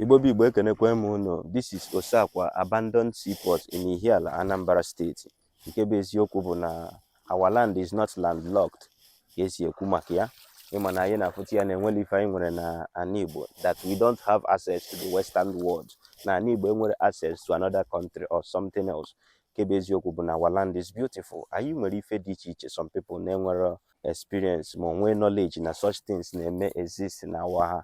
Igbo bụ Igbo ekenekwa m unu this is Oseakwa abandoned seaport in Ihiala Anambra steeti nke bụ eziokwu bụ na our land is not landlocked ka esi ekwu maka ya ịma na anyị na-afụta ya na enwere ife anyị nwere na ana Igbo that we don't have access to the western world na ana Igbo enwere access to another country or something else nke bụ eziokwu bụ na our land is beautiful anyị nwere ife dị iche iche some people na-enwere experience ma onwe knowledge na such things na-eme exist na our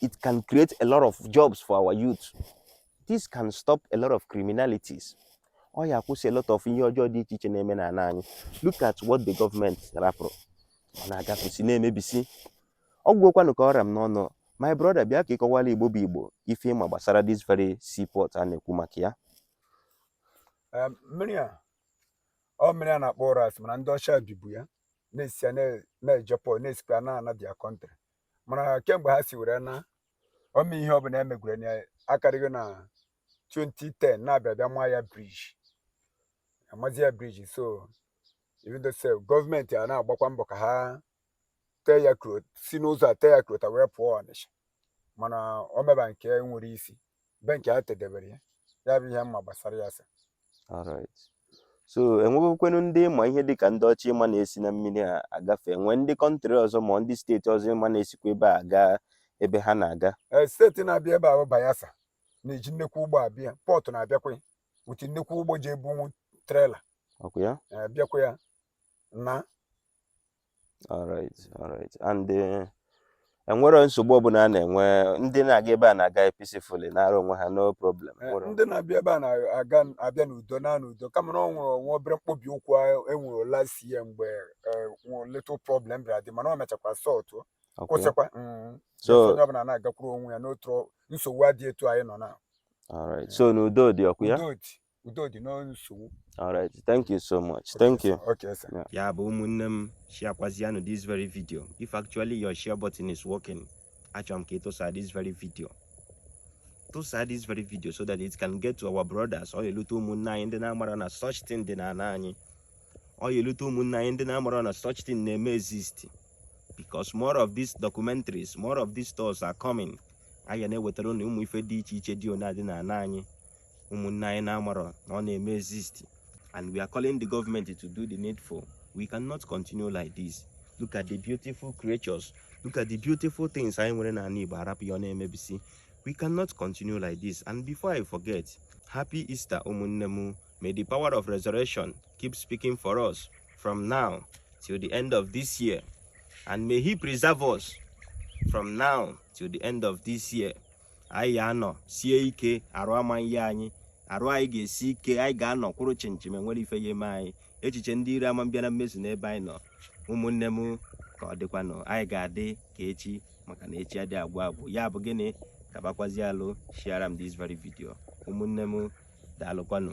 it can create a lot of jobs for our youth this can stop a lot of criminalities ọ ya-akwụsị a lot of ihe ọjọọ dị iche iche na-eme n'ala anyị look at what the government rapụrụ ọ na-agafesi na-emebisi ọ gwụkwanụ ka ọ ra m n'ọnụ my brother bịa ka ị kọwara igbo bụ igbo ife ị ma gbasara this very seaport a na-ekwu maka ya mmiri a ọ mmiri a na-akpọ Ụrasị mana ndị ọcha bibu ya na-esi na-ejepụ na-esikwa na-ana their country mana kemgbe ha si were na ọma ihe ọbụla emegwere na akarịghị na 2010 na-abịa bịa ma ya bridge amazi ya bridge so even though say government a na-agbakwa mbọ ka ha tee ya kro si n'ụzọ a tee ya krota were pụọ Ọnịsha mana o meba nke nwere isi be nke ha tedebere ya ya bụ ihe m ma gbasara ya sir alright so enwebekwenu ndị ị ma ihe dịka ndị ọcha ị ma na-esi na mmiri a agafe nwee ndị country ọzọ ma ndị steeti ọzọ ị ma na-esikwa ebe a gaa ebe ha na-aga ee steeti na-abịa ebe a bụ Bayelsa na-eji nnekwu ụgbọ abịa Port na-abịakwa ya with nnekwu ụgbọ ji ebunwu trailer ọkwa ya ee bịakwa ya na alright alright and eh, enwere nsogbu ọbụla a na-enwe ndị na-aga ebe a na-aga peacefully naara onwe ha no problem Eh, nwere ndị na-abịa ebe a na-aga abịa n'udo na n'udo kama na ọ nwere nwa obere mkpobi ụkwụ ahụ enwere last year mgbe eh, nwe little problem bịara dị mana ọ mechakwa sọtụ Okay. kwụsịkwa Mm. So- Just onye ọbụla na-agakwuru onwe ya n'otu ọ- nsogbu adị etu anyị nọ na Alright. so n'udo dị ọkwa ya udo dị udo dị n'nsogbu all right thank you so much thank you okay sir ya bụ ụmụnne m shiakwazianụ this very video if actually your share button is working achọrọ m ka ị tụsa this very video tụsa this very video so that it can get to our brothers ọ elute ụmụnne anyị ndị na-amara na such thing dị n'ala anyị ọ ya-elute ụmụnne anyị ndị na-amara na such thing na-eme exist because more of these documentaries more of these stories are coming anyị ya na-ewetara unu ụmụ ife dị iche iche dị ona dị n'ala anyị ụmụnne anyị na-amarọ na ọ na-eme exist and we are calling the government to do the needful we cannot continue like this look at the beautiful creatures look at the beautiful things anyị nwere n'ala Igbo arapụ ya ọ na-emebisi we cannot continue like this and before I forget happy Easter ụmụnne m may the power of resurrection keep speaking for us from now till the end of this year and may he preserve us from now till the end of this year anyị ga-anọsie ike arụ ama ihe anyị arụ anyị ga-esi ike anyị ga-anọ kwụrụ chịm chịm enwere ife ya-eme anyị echiche ndị iro ama abịa na mmezu n'ebe anyị nọ ụmụnne m ka ọ dịkwanụ anyị ga-adị ka echi maka na echi adị agwụ agwụ ya bụ gịnị kabakwazi alụ shiara m this very video ụmụnne m daalụkwanụ